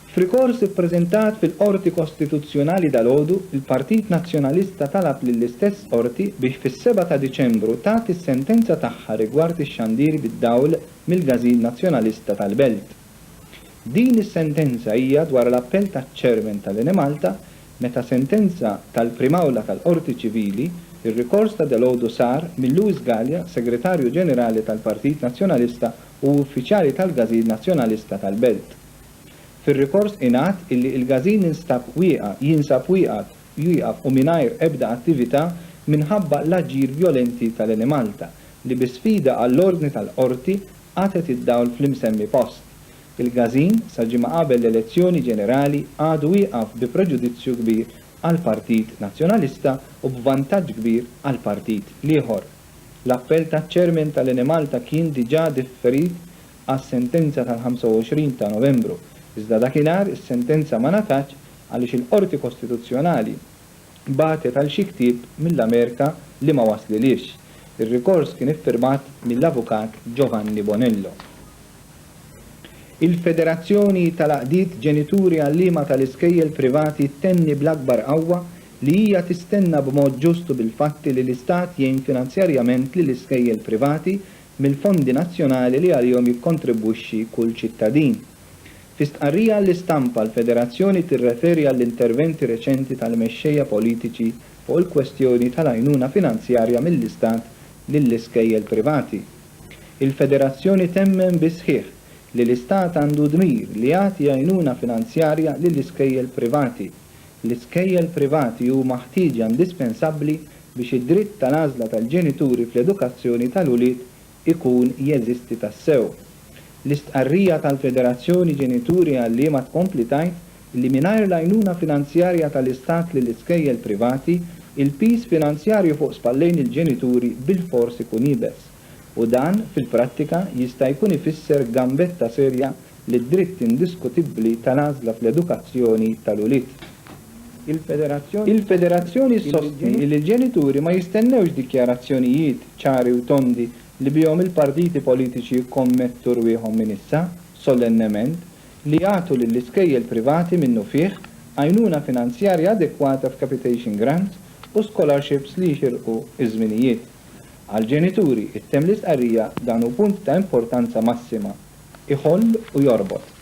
F'rikors ippreżentat fil-Qorti Kostituzzjonali dalgħodu, il-Partit Nazzjonalista talab lill-istess qorti biex fis-seba' ta' Diċembru tagħti s-sentenza tagħha rigward ix-xandir bid-dawl mill-Gazin Nazzjonalista tal-Belt. Din is-sentenza hija dwar l-appell taċ-Chairman tal-Enemalta meta sentenza tal-Prim'Awla tal-Qorti Ċivili, ir-rikors ta' dalgħodu sar minn Louis Galea, Segretarju Ġenerali tal-Partit Nazzjonalista u uffiċjali tal-Gazin Nazzjonalista tal-Belt. Fir-rikors ingħad illi l-Gazin instab wieqa' jinsab wieqaf wieqaf u mingħajr ebda attività minħabba l-aġir vjolenti tal-Enemalta li bi sfida għall-ordni tal-Qorti qatgħet id-dawl fl-imsemmi post. Il-Gazin sa ġimgħa qabel l-elezzjoni ġenerali għadu wieqaf bi preġudizzju kbir għall-Partit Nazzjonalista u b'vantaġġ kbir għall-Partit l-ieħor. L-appell taċ-Chairman tal-Enemalta kien diġà differit għas-sentenza tal-25 ta' Novembru, iżda dakinhar is-sentenza ma ngħatatx għaliex il-Qorti Kostituzzjonali bagħtet għal xi ktieb mill-Amerika li ma waslilhiex. Ir-rikors kien iffirmat mill-Avukat Giovanni Bonello. Il-Federazzjoni tal-Għaqdiet Ġenituri Għalliema tal-Iskejjel Privati ttenni bl-akbar qawwa li hija tistenna b'mod ġust u bil-fatti li l-Istat jgħin finanzjarjament lill-iskejjel privati mill-fondi nazzjonali li għalihom jikkontribwixxi kull ċittadin. Fi stqarrija għall-istampa, l-Federazzjoni tirreferi għall-interventi reċenti tal-mexxejja politiċi fuq il-kwestjoni tal-għajnuna finanzjarja mill-Istat lill-iskejjel privati. Il-Federazzjoni temmen bis-sħiħ li l-Istat għandu dmir li jagħti għajnuna finanzjarja lill-iskejjel privati L-iskejjel privati huma ħtieġa indispensabbli biex id-dritt tal-għażla tal-ġenituri fl-edukazzjoni tal-ulied ikun jeżisti tassew. L-istqarrija tal-Federazzjoni Ġenituri Għalliema tkompli tgħid li mingħajr l-għajnuna finanzjarja tal-Istat lill-iskejjel privati, il-piż finanzjarju fuq spallejn il-ġenituri bilfors ikun iebes. u dan fil-prattika jista' jkun ifisser gambetta serja lid-dritt indiskutibbli tal-għażla fl-edukazzjoni tal-ulied. Il-Federazzjoni ssostni li l-ġenituri ma jistennewx dikjarazzjonijiet ċari u tondi li bihom il-partiti politiċi jikkommettu rwieħhom minn issa, solennement, li jagħtu lill-iskejjel privati minnufih għajnuna finanzjarja adekwata f'capitation grants u scholarships li jixirqu ż-żminijiet. Għall-ġenituri, ttemm l-istqarrija, dan hu punt ta' importanza massima, iħoll u jorbot.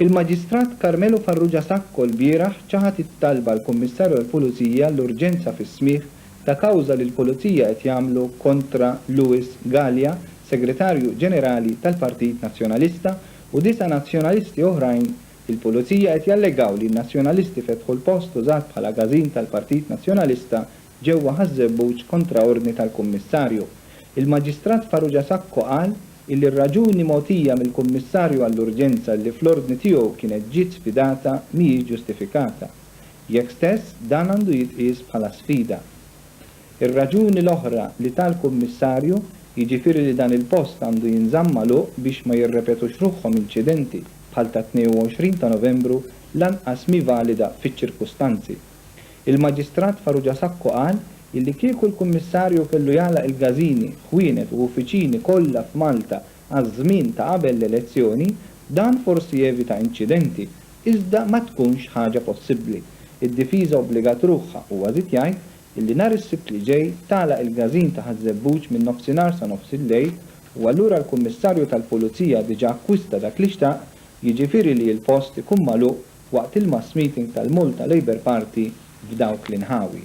Il-Maġistrat Carmelo Farrugia Sacco lbieraħ ċaħad it-talba l-Kummissarju għall-Pulizija l-urġenza fis-smigħ ta' kawża li l-Pulizija qed jagħmlu kontra Louis Galea, Segretarju Ġenerali tal-Partit Nazzjonalista u disa' Nazzjonalisti oħrajn Il-Pulizija qed jallegaw li n-Nazzjonalisti fetħu l-post użat bħala gażin tal-Partit Nazzjonalista ġewwa Ħaż-Żebbuġ kontra ordni tal-Kummissarju. Il-Maġistrat Farrugia Sacco qal illi r-raġuni mogħtija mill-Kummissarju għall-urġenza illi fl-ordni tiegħu kienet ġiet sfidata mhijiex ġustifikata. Jekk stess dan għandu jitqies bħala sfida. Ir-raġuni l-oħra li ta l-Kummissarju, jiġifieri li dan il-post għandu jinżamm magħluq biex ma jirrepetux ruħhom inċidenti bħal tat-22 ta' Novembru lanqas mhi valida fiċ-ċirkustanzi. Il-Maġistrat Farrugia Sacco qal illi kieku l-Kummissarju kellu jagħlaq il-każini, ħwienet u uffiċini kollha f'Malta għaż-żmien ta' qabel l-elezzjoni, dan forsi jevita inċidenti, iżda ma tkunx ħaġa possibbli. Id-difiża obbligat ruħha, huwa żied jgħid, illi nhar is-Sibt li ġej tagħlaq il-każin ta' Ħaż-Żebbuġ min-nofsinhar sa nofs il-lejl u allura l-Kummissarju tal-Pulizija diġà akkwista dak li xtaq, jiġifieri li l-post ikun magħluq waqt il-mass meeting tal-Malta Labour Party f'dawk l-inħawi.